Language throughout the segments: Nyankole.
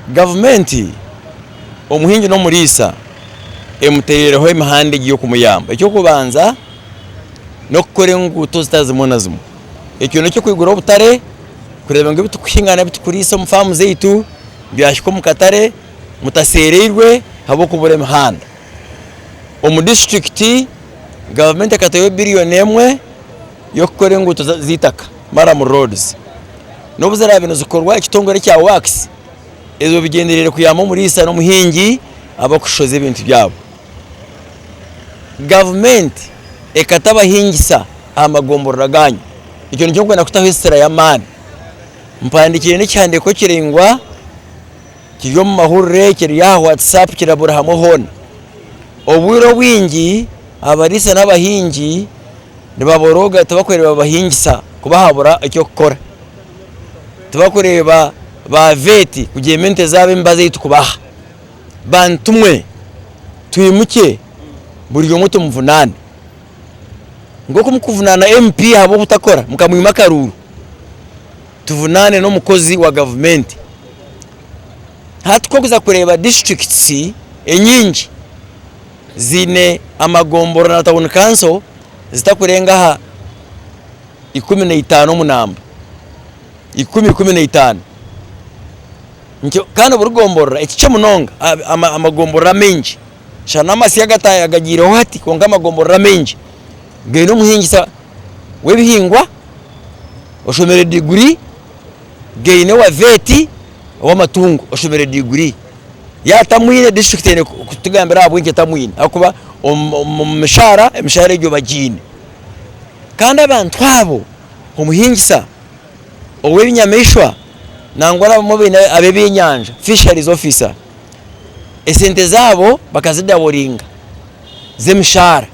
Gavumenti omuhingi n'omuriisa emuteereireho emihanda egi y'okumuyamba. Eky'okubanza n'okukora enguuto zitari zimwe na zimwe. Ekyo n'ekyo kwigura obutare kureeba ngu ebitukuhinga nari ebitukuriisa omu faamu zaitu byahika omu katare mutaseereirwe ahabw'okubura emihanda. Omu disiturikiti, gavumenti ekateeraho biriyoni emwe y'okukora enguuto z'eitaka, murram roads, n'obu ziraabe nizikorwa ekitongore kya Works ezo bigyendereire kuyamba omuriisa n'omuhingi ab'okushoza ebintu byabo. Gavumenti ekata abahingisa aha magomborora gaanyu, ekyo nikyo nkwenda kutaho esira y'amaani. Mpandiikire n'ekihandiiko kiraingwa kiri omu mahurire, kiri aha WhatsApp kirabura hamwe hoona. Obwire obwingi abariisa n'abahingi, Nibaborooga tibakureeba babahingisa kuba haabura eky'okukora. Tibakureeba ba vet kugyema ente zaabo emibazi ei tukubaha. Bantu mwe, twimukye buri omwe tumuvunaane. Nk'oku mukuvunaana MP ahabw'obutakora mukamwima akaruuru, tuvunaane n'omukozi wa gavumenti. Hati ku orikuza kureeba districts enyingi ziine amagombora na tawuni kanso zitakurenga aha ikumi na itaano omu namba, ikumi, ikumi na itaano, nikyo kandi buri gomborora ekikye munonga amagomborora amaingi shana n'amasyo agagaireho hati kwonka amagomborora amaingi gaine omuhingisa w'ebihingwa oshomire diguri. gaine owa veti owamatungo oshomire diguri yaba tamwine disiturikiti eine kutugambira ahabwinki etamwine ahakuba omumishaara emishaara egyo bagiine kandi abantu abo omuhingisa owebinyamaishwa nangwa abamwe baine abebyenyanja fishalizi ofisa esente zaabo bakazidaboringa zemishaara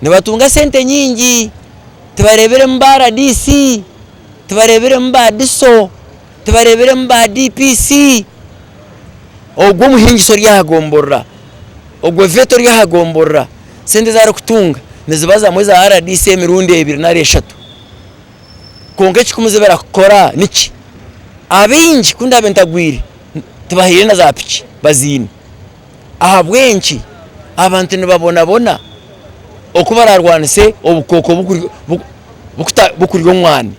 nibatunga sente nyingi tibareberemu ba rdc. tibareebiremu ba Diso, tibareebiremu ba DPC, ogwo omuhingisa ori aha gomborora, ogwo Veta ori aha gomborora sente ezi arikutunga nizibazamu eza RDC emirundi ebiri nari eshatu kwonka ekikumuza eki arikukora niki? Abaingi ku ndaabe ntagwire tibahaire na za piki baziine. Ahabw'enki abantu nibabonabona oku baraarwanise obukooko bukurya omwani?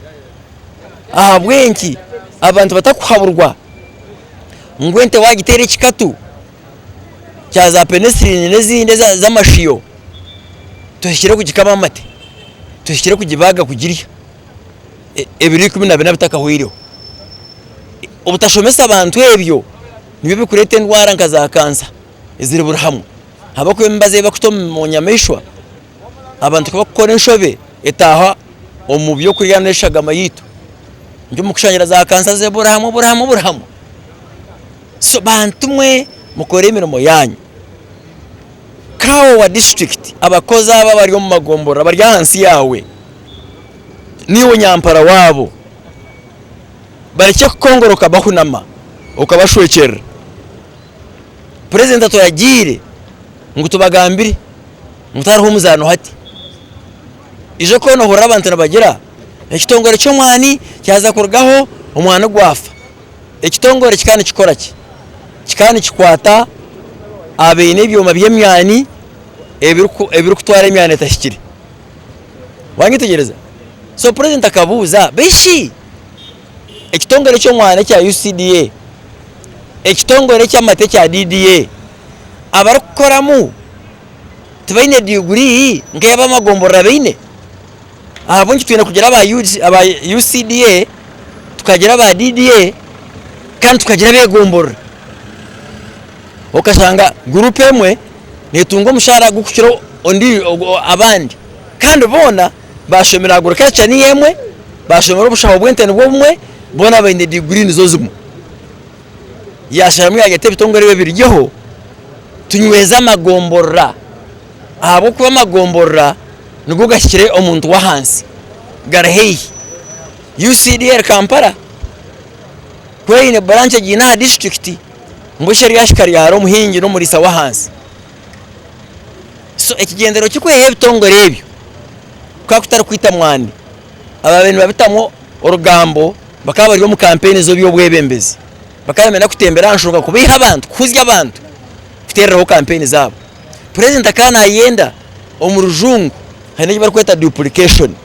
Ahabw'enki abantu batakuhaburwa ngu ente waagiteera ekikatu kya zaapenesiriini n'ezindi ez'amashiyo tohikire kugikama amate, tohikire kugibaaga kugirya ebiro ikumi na bina bitakahweireho? Obutashomesa bantu ebyo Nibyo bikureeta endwara nka za kansa eziri buri hamwe ahabw'okuba emibazi ei bakuta omu nyamaishwa abantu ku bakukora enshobe etaaha omu by'okurya nari eshagama yaitu nikyo muri kushangira za kansa ziri buri hamwe buri hamwe buri hamwe. So bantu mwe mukore emirimo yaanyu. Kaawa wa disiturikiti, abakozi abo abari omu magomborora bari ahansi yaawe, niiwe nyampara waabo. barekye kukongoroka bahunama okabashwekyerera Purezidenti aturagiire ngu tubagambire ngu tihariho omuzaano hati ija okaba nohurira abantu nibagira ekitongore ky'omwani kyaza kurugaho omwani gwafa ekitongore kikaba nikikoraki kikaba nikikwata abaine ebyoma by'emyani ebirikutwara emyani etahikire. wanyetegyereza so purezidenti akabuuza bishi ekitongore ky'omwana ekya UCDA ekitongore eky'amata ekya DDA abarikukoramu tibaine diguri nk'eyi ab'amagomborora baine ahabw'enki twine kugira aba UCDA tukagira aba DDA kandi tukagira ab'egomborora. okashanga guruupu emwe neetunga omushaara gurikukira abandi kandi boona baashomire agriculture niyo emwe, baashomire obushaho bw'ente nibwo bumwe, boona baine diguri nizo zimwe. Yaasharamu yaareeta ebitongore ebyo biryeho tunyweze amagomborora ahabw'okuba amagomborora nigo gahikire omuntu w'ahansi gari haihi. UCDL Kampala ku eine branch egiine aha disiturikiti Busha ryahika ryahara omuhingi n'omuriisa w'ahansi. So ekigendererwa ky'okwehaho ebitongore ebyo kukaba kutari kwita mwani. Abaabaire nibabitamu orugambo bakaba bari omu kampeini z'eby'obwebembezi. Bakaba nibenda kutembera aha nshonga kubaiha abantu, kuhuzya abantu kuteereraho kampeini zaabo. Purezidenti akaba naayenda omu rujungu haine eki barikweta duplication.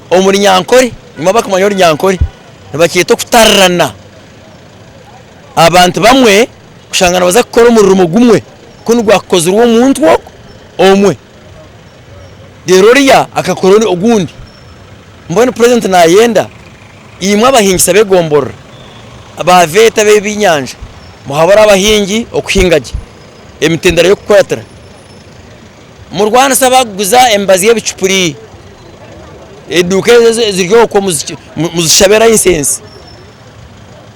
Omu runyankore, nimwo abakumanya orunyankore nibakyeta okutarirana. abantu bamwe kushanga nibaza kukora omurimo gumwe ku nigwakukozirwe omuntu ogwo omwe reero oriya akakora ogundi mbwenu purezidenti naayenda imwe abahingisa b'egomborora baaveeta ab'eby'enyanja muhabure abahingi okuhinga gye emitendera y'okukuratira murwanise abaakuguza emibazi y'ebicupuri eduuka ezo eziri okwo muzishabe layisensi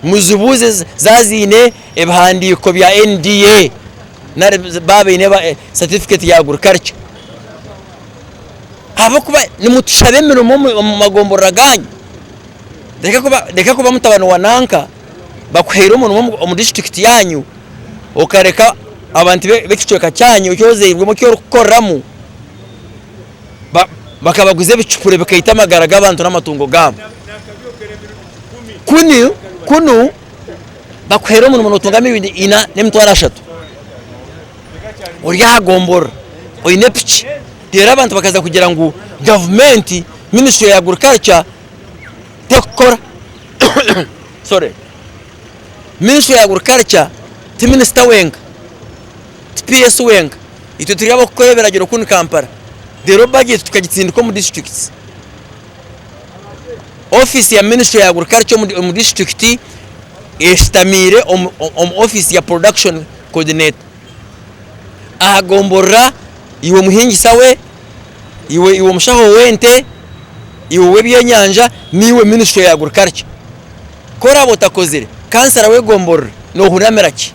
muzibuuze zaaba ziine ebihandiiko bya NDA nari baaba baine satifiketi ya agurikarikya ahabw'okuba nimutushaba emirimo omu magomborora gaanyu, reka kuba mutabani wa nanka bakuhaire omurimo omu disiturikiti yaanyu okareka abantu b'ekicweka kyaanyu eki ozairwemu eki orikukoreramu. bakabaguza ebicupuri bikaita amagara g'abantu n'amatungo gaabo. Kunu kunu bakuheera omurimo nootunga emirundi ina n'emitwaro ashatu. Ori aha gomborora oine piki reero abantu bakaza kugira ngu gavumenti minisitule ya agriculture tekukora sorry minisitule ya agriculture ti minisita wenka. Tipa Yesu wenka, itwe turi ab'okukora ebiragiro kunu Kampala, reero bajeti tukagitsindika omu disiturikiti. Ofiisi ya minisitule ya agurikarikya omu disiturikiti eshutamiire omu ofiisi ya porodakishoni kodineta aha gomborora, iwe omuhingisa we, iwe iwe omushaho w'ente, iwe ow'ebyenyanja naiwe minisitule ya agurikarikya. Ku oraabe otakozire kansara w'egomborora, noohurira mera ki?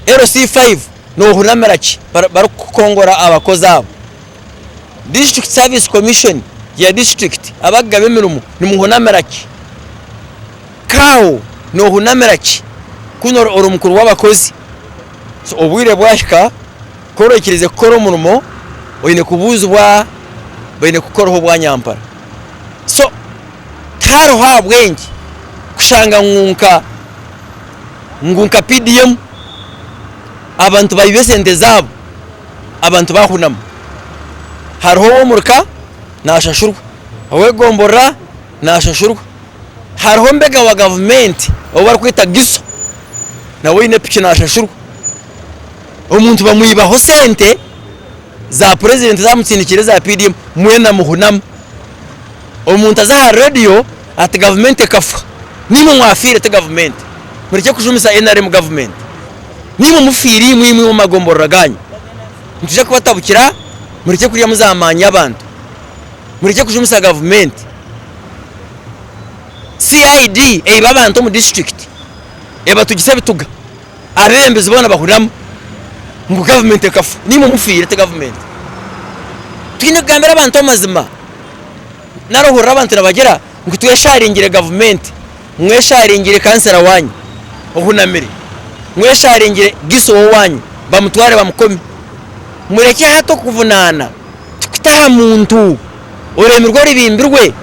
LC five, Noohurira mera ki barikukongora abakozi abo? District Service Commission ya disiturikiti, abakugaba emirimo, nimuhuna mera ki? Cow, Noohuna mera ki ku ori omukuru w'abakozi? So obwire bwahika. Ku orikiriize kukora omurimo oine kubuuzibwa baine kukukoraho obwanyampara so tihariho ahabwengye kushanga ngu nka ngu nka PDM abantu baiba esente zaabo abantu bahunama hariho ow'omuri ka nashashurwa ow'egomborora nashashurwa hariho mbega wa gavumenti ou barikweta Giso nawe oine piki nashashurwa. Omuntu bamwibaho sente za president zamutsindikira eza PDM mwena muhunamu. Omuntu aza aha radio ati gavumenti ekafwa nimwe mwafiire ti gavumenti. Murekye kujumisa nrm gavumenti nimwe mufiire imwe imwe omu magomborora ganyu. Nitwija kubatabukira murekye kuryamu za maani y'abantu. Murekye kujumisa gavumenti. CID eiba abantu omu district ebatugisa ebituga. Abebembezi boona bahuriramu ngu gavumenti ekafa nimwe mufiire ti gavumenti. Twine kugambira abantu amazima nari ohurira abantu nibagira ngu twesharingire gavumenti, mwesharingire kansera wanyu ohunamire, mwesharingire Giso owanyu bamutware bamukome. Murekye hati okuvunaana tukute aha muntu. Orurimi rwe rubimbirwe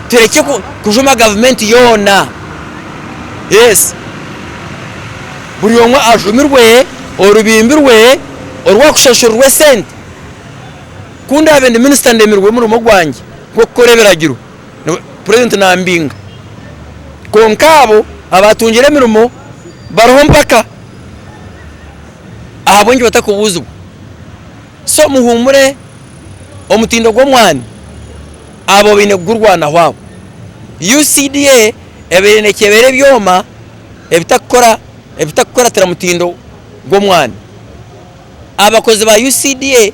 turekye kujuma gavumenti yoona yes buri omwe ajumirwe orubimbi rwe orwakushashurirwa esente ku ndaabe ndi minisita ndemirwe omurimo gwangye gw'okukora ebiragiro purezidenti nambinga kwonka abo abaatungire emirimo bariho mpaka ahabw'enki batakubuuzibwa? So muhuumure, omutindo gw'omwani abo baine kugurwanaho abo. UCDA ebaire nekyebera ebyoma ebitakukora ebitakukuratira mutindo gw'omwani. Abakozi ba UCDA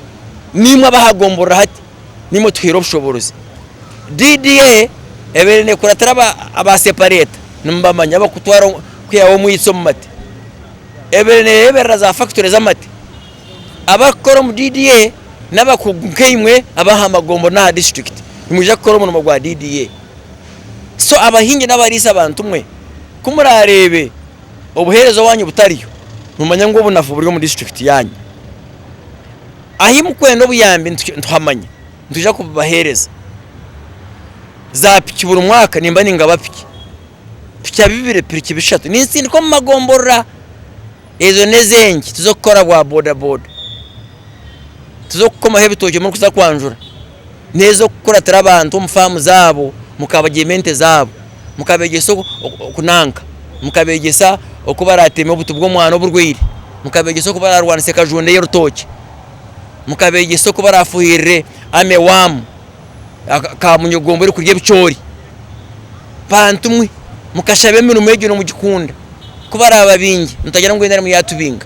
nimwe abahagomborora hati, nimwe otuhaire obushoboorozi. DDA ebaire nekuratira aba aba separeta nimubamanya abakutwara kwihaho omwitsi omu mate. Ebaire nereberera za factory z'amate. abarikukora omu DDA n'abakugu nk'eimwe ab'aha magombo n'aha disiturikiti nimwija kukora omurimo gwa DDA. So abahingi n'abariisa bantu mwe, ku muraareebe obuheereza owaanyu butariyo, nimumanya ngu obunafu buri omu disiturikiti yaanyu. Ahi mukwenda obuyambi nituhamanya, nitwija kububaheereza. Zaapiki buri mwaka nimba ningaba piki. Pikya bibiri, piriki bishatu nintsindika omu magomborora, ezo n'ez'engi tiz'okukora bwa bodaboda, tiz'okukomaho ebitookye murikuza kwanjura, n'ez'okukuratira abantu omu faamu zaabo mukabagyema ente zaabo, mukabeegyesa okunanka, mukabeegyesa oku barateeme obuti bw'omwana oburwaire, mukabeegyesa oku bararwanise kajunda ey'orutookye, mukabeegyesa oku barafuhirire army worm. ka munyogomba orikurya ebicoori bantu mwe mukashaba emirimo egyo nomugikunda kubaraba baingi mutagira ngu enda arimu yatubinga.